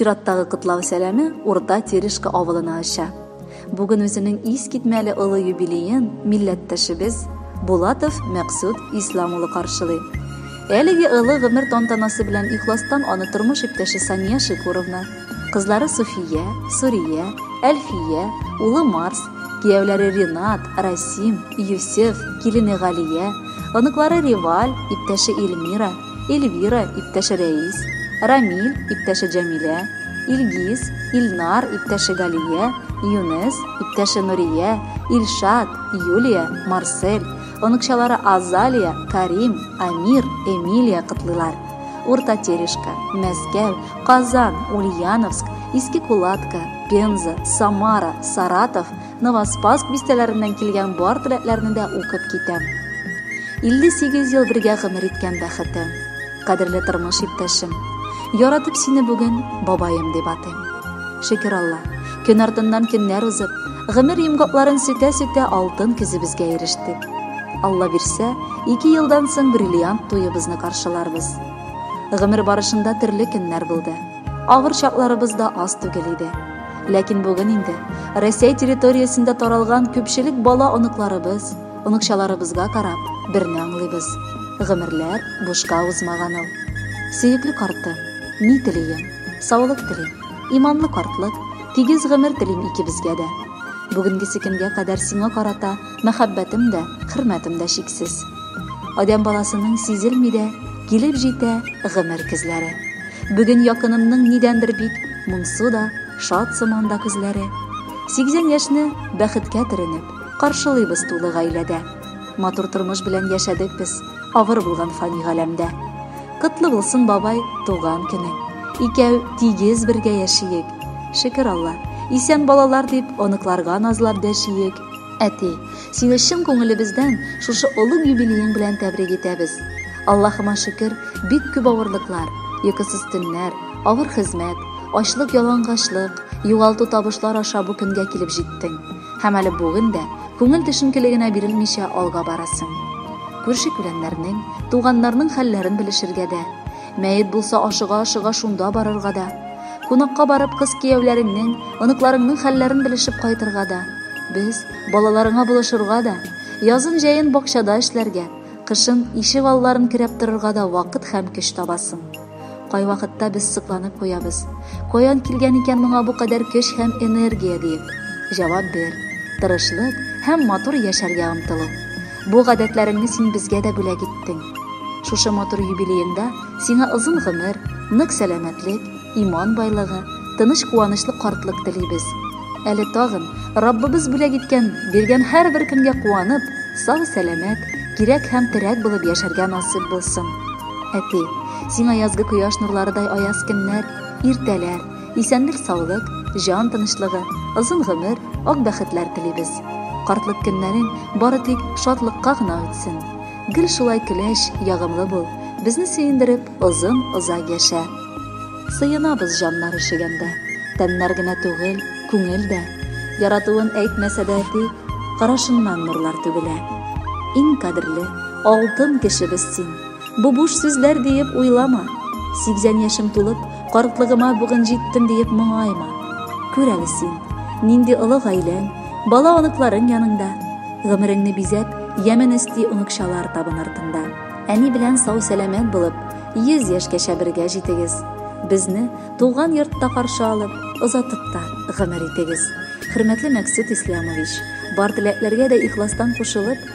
Чираттагы котлау сәламе Урта Терешка авылына оча. Бүген үзенең ис китмәле олы юбилеен милләттәшебез Булатов Мәксүд Ислам улы каршылый. Әлеге олы гомер тантанасы белән ихластан аны тормыш иптәше Сания Шикуровна, Кызлары Суфия, Сурия, Әлфия, улы Марс, кияүләре Ринат, Расим, Юсеф, килене Галия, оныклары Риваль, иптәше Эльмира, Эльвира, иптәше Рәис, Рамиль, иптәше Җәмилә, Илгиз, Илнар, иптәше Галия, Юнес, иптәше Нурия, Илшат, Юлия, Марсель, оныкчалары Азалия, Карим, Амир, Эмилия котлыйлар. Урта Терешка, Мәскәү, Казан, Ульяновск, Иске Кулатка, Пенза, Самара, Саратов, Новоспаск бистәләреннән килгән бар теләкләрне дә укып китәм. 58 ел бергә гомер иткән бәхетем, кадерле тормыш иптәшем, яратып сине бүген бабаем дип атыйм. Шөкер Алла, көн артыннан көннәр узып, гомер йомгакларын сүтә-сүтә алтын көзебезгә ирештек. Алла бирсә, ике елдан соң бриллиант туебызны каршыларбыз. Гомер барышында төрле көннәр булды. Авыр чакларыбыз да аз түгел иде. Ләкин бүген инде Россия территориясендә таралган күпчелек бала оныкларыбыз, оныкчаларыбызга карап, берне аңлыйбыз. Гомерләр бушка узмаган ул. Сөекле карты, ни телим? Саулык телим. Иманлы картлык, тигез гомер телим икебезгә дә. Бүгенгесе көнгә кадәр сиңа карата Мәхәббәтем дә, хөрмәтем дә чиксез. Адәм баласының сизелми дә, килеп җитә гомер көзләре. Бүген якынымның нидәндер бик моңсу да, шат сыман да күзләре. 80 яшьне бәхеткә төренеп, каршылыйбыз тулы гаиләдә. Матур тормыш белән яшәдек без авыр булган фани галәмдә. Котлы булсын, бабай, туган көнең. Икәү тигез бергә яшиек. Шөкер Алла, исән балалар дип, оныкларга назлап дәшиек. Әти, сине чын күңелебездән шушы олуг юбилеең белән тәбрик итәбез. Аллаһыма шөкер, бик күп авырлыклар, йокысыз төннәр, авыр хезмәт, ачлык, ялангачлык, югалту табышлар аша бу көнгә килеп җиттең һәм әле бүген дә күңел төшенкелегенә бирелмичә алга барасың. Күрше-күләннәрнең, туганнарның хәлләрен белешергә дә, Мәет булса, ашыга-ашыга шунда барырга да. Кунакка барып, кыз кияүләреңнең, оныкларыңның хәлләрен белешеп кайтырга да. Без, балаларыңа булышырга да, язын-җәен бакчада эшләргә, кышын ишек алларын керәп торырга да вакыт һәм көч табасың. Кайвакытта без сыкланып куябыз. Каян килгән икән моңа бу кадәр көч һәм энергия диеп? Җавап бир. Тырышлык һәм матур яшәргә омтылу. Бу гадәтләреңне син безгә дә бүләк иттең. Шушы матур юбилееңда сиңа озын гомер, нык сәламәтлек, иман байлыгы, тыныч куанычлы картлык телибез. Әле тагын Раббыбыз бүләк иткән, биргән һәрбер көнгә куанып, сау-сәламәт, кирәк һәм терәк булып яшәргә насыйп булсын. Әти, сиңа язгы кояш нурларыдай аяз көннәр, иртәләр, Исәнлек саулык, җан тынычлыгы, озын гомер, ак бәхетләр телибез. Картлык көннәрең бары тик шатлыкка гына үтсен. Гел шулай көләч, ягымлы бул, безне сөендереп, озын озак яшә. Сыенабыз җаннар өшегәндә, тәннәр генә түгел, күңел дә. Яратуын әйтмәсә дә әти, карашыннан нурлар түгелә. Иң кадерле, алтын кешебез син. Бу буш сүзләр диеп уйлама. Сигзән яшем тулып, картлыгыма бүген җиттем диеп моңайма. Күр әле син, нинди олы гаиләң, бала оныкларың яныңда. Гомереңне бизәп, ямен өсти оныкчалар табын артыңда. Әни белән сау-сәламәт булып, йөз яшькәчә бергә җитегез. Безне туган йортта каршы алып, озатып та гомер итегез. Хөрмәтле Мәксүт Ислямович, бар теләкләргә дә ихластан кушылып,